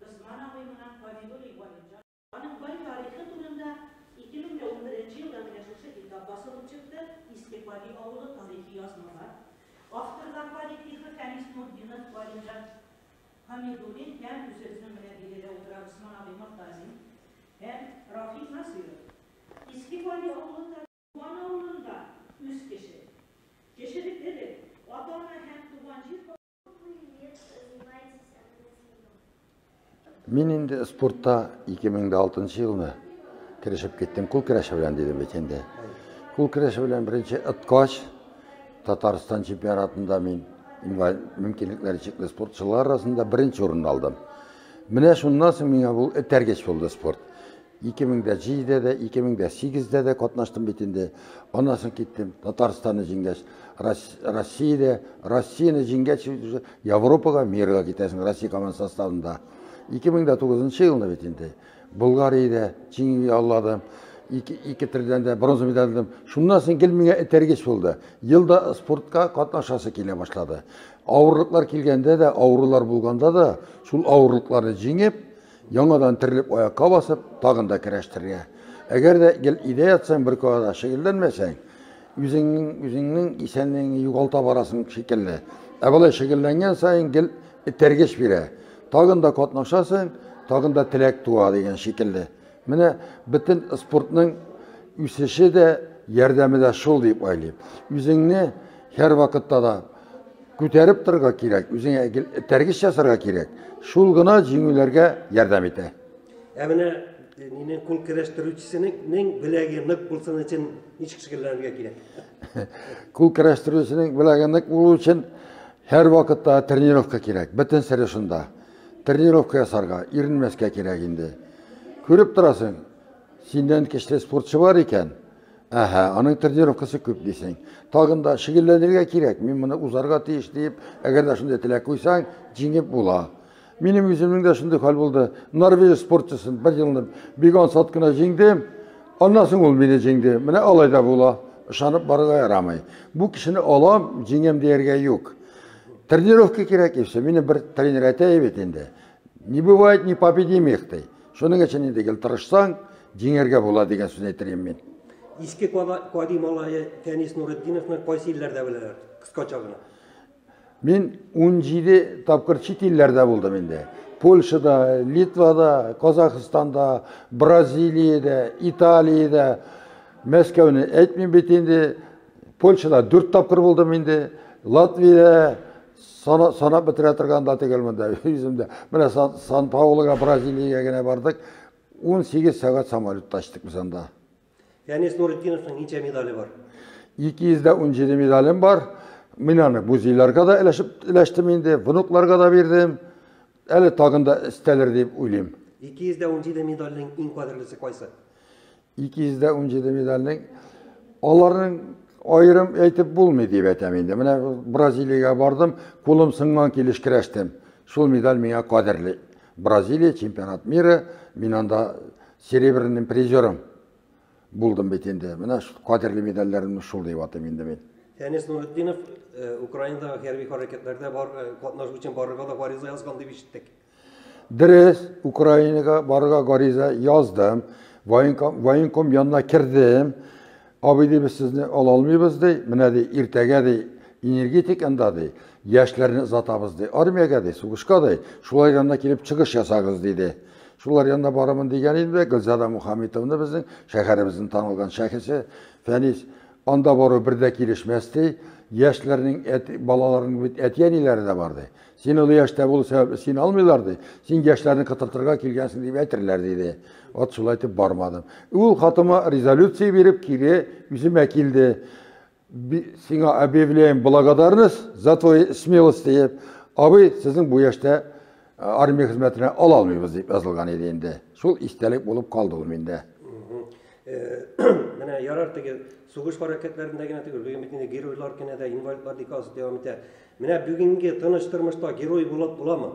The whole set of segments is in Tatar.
Госман абый моңа гади уйлый, Галимҗан. Аның бай тарихы турында 2011 елда генә шушы китап басылып чыкты, Иске Пади авылы тарихи язмалар. Авторлар, Пади Тихо, Фәнис Нуртдинов, Галимҗан Хәмидуллин һәм үзебезнең менә биредә утыра Госман абый Мортазин һәм Рафик Насыйров. Иске Пади авылы тарихы. Туган авылында үз кеше. Кешелек элек, ата-ана һәм туган җир. Мин инде спортта 2006 елны керешеп киттем кул көрәше белән дидем бит инде. Кул көрәше белән беренче ыткач Татарстан чемпионатында мин инвалид мөмкинлекләре чикле спортчылар арасында беренче урынны алдым. Менә шуннан соң миңа бу этәргеч булды спорт. 2007 дә, 2008 дә дә катнаштым бит инде. Аннан соң киттем. Татарстанны җиңгәч, Россиядә, Россияне җиңгәч, Европага, мирга китәсең Россия команд составында. 2009 елны бит инде. Болгариядә җиңү яуладым. Ике, ике төрдән дә бронза медаль алдым. Шуннан соң гел миңа этәргеч булды. Елда спортка катнашасы килә башлады. Авырлыклар килгәндә дә, авырулар булганда да, шул авырлыкларны җиңеп, Яңадан терелеп аякка басып, тагын да керәштерергә. Әгәр дә гел өйдә ятсаң, бер кая да шөгыльләнмәсәң, үзеңнең үзеңнең исәнлегеңне югалта барасың шикелле. Ә болай шөгыльләнгән саен гел этәргеч бирә. Тагын да катнашасың, тагын да теләк туа дигән шикелле. Менә бөтен спортның үсеше дә, ярдәме дә шул дип уйлыйм. Үзеңне һәрвакытта да Күтәреп торырга кирәк, үзеңә этәргеч ясарга кирәк. Шул гына җиңүләргә ярдәм итә. Ә менә мине күн керәштерүчесенең беләге нык булсын өчен ничек шөгыльләнергә кирәк? Күн керәштерүчесенең беләге нык булу өчен һәр вакытта тренировка кирәк. Бөтен сире шунда. Тренировка ясарга, иренмәскә кирәк инде. Күреп торасың, синнән кечле спортчы бар икән, Әһә, аның тренировкасы күп дисең. Тагын да шөгыльләнергә кирәк, мин моны узарга тиеш диеп, әгәр дә шундый теләк куйсаң, җиңеп була. Минем үземнең дә шундый хәл булды. Норвеж спортчысын бер елны бик ансат кына җиңдем. Аннан соң ул мине җиңде. Менә алай да була. Ышанып барырга ярамый. Бу кешене алам, җиңәм дияргә юк. Тренировка кирәк и все. Мине бер тренер әйтә бит инде. Не бывает непобедимых, ди. Шуның өчен инде гел тырышсаң, җиңәргә була дигән сүз әйтер идем мин. Иске Кади малае Фәнис Нуретдиновны кайсы илләрдә беләләр? Кыскача гына. Мин 17 тапкыр чит илләрдә булдым инде. Польшада, Литвада, Казахстанда, Бразилиядә, Италиядә. Мәскәүне әйтмим бит инде. Польшада 4 тапкыр булдым инде. Латвиядә Сана, санап бетерә торган да түгел монда үземдә. Менә Сан, Сан Паулога, Бразилиягә генә бардык. 18 сәгать самолетта очтык без анда. Фәнис Нурытдиновның ничә медале бар? 217 медалем бар. Мин аны музейларга да өләшеп өләштем инде, внукларга да бирдем. Әле тагын да өстәлер дип уйлыйм. 217 медальнең иң кадерлесе кайсы? 217 медальнең аларның аерым әйтеп булмый дип әйтәм инде. Менә Бразилиягә бардым, кулым сыңган килеш керәштем. Шул медаль миңа кадерле. Бразилия, чемпионат мира, мин анда серебряным призерым булдым бит инде. Менә кадерле медальләремне шул дип атыйм инде мин. Фәнис Нуретдинов э, Украинадагы хәрби хәрәкәтләрдә бар э, катнашу өчен барырга да гариза язган дип ишеттек. Дөрес, Украинага барырга гариза яздым, военком, военком янына кердем. Абый ди, без сезне ала алмыйбыз ди, менә ди, иртәгә ди, энергетик анда ди, яшьләрне озатабыз ди, армиягә ди, сугышка ди, шулар янына килеп чыгыш ясагыз диде. Шулар янына барамын дигән идем дә, Гөлзада Мухаметовна безнең шәһәребезнең танылган шәхесе, Фәнис, анда бару бер дә килешмәс ди, яшьләрнең әти, балаларның бит әти-әниләре дә бар ди. Син олы яшьтә булу сәбәпле син алмыйлар ди. Син яшьләрне кытыртырга килгәнсең дип әйтерләр диде. Ат шулай итеп бармадым. Ул хатыма резолюция биреп кире үземә килде. Сиңа объявляем благодарность за твою смелость диеп, абый, сезнең бу яшьтә армия хезмәтенә ала алмыйбыз дип язылган иде инде. Шул истәлек булып калды ул миндә. Менә ярар теге сугыш хәрәкәтләрендә генә түгел, бүген бит инде геройлар кенә дә инвалидлар декасы дәвам итә. Менә бүгенге тыныч тормышта герой булып буламы?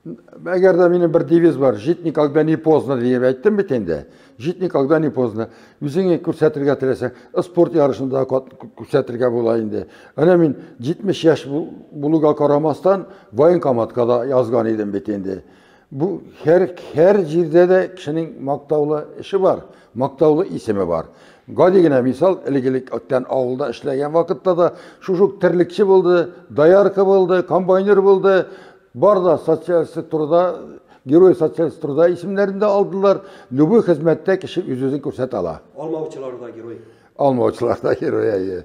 Әгәр дә минем бер девиз бар, жить никогда не поздно диеп әйттем бит инде. Жить никогда не поздно. Үзеңне күрсәтергә теләсәң, спорт ярышында күрсәтергә була инде. Әнә мин 70 яшь булуга карамастан военкоматка да язган идем бит инде. Бу һәр һәр җирдә дә кешенең мактаулы эше бар, мактаулы исеме бар. Гади генә мисал, элек-элек Оттян авылда эшләгән вакытта да шушы ук терлекче булды, доярка булды, комбайнер булды. Бар да социалистик труда, герой социалистик труда исемнәрен дә алдылар. Любой хезмәттә кеше үз-үзен күрсәтә ала. Алмаучылар да герой. Алмаучылар да герой, әйе.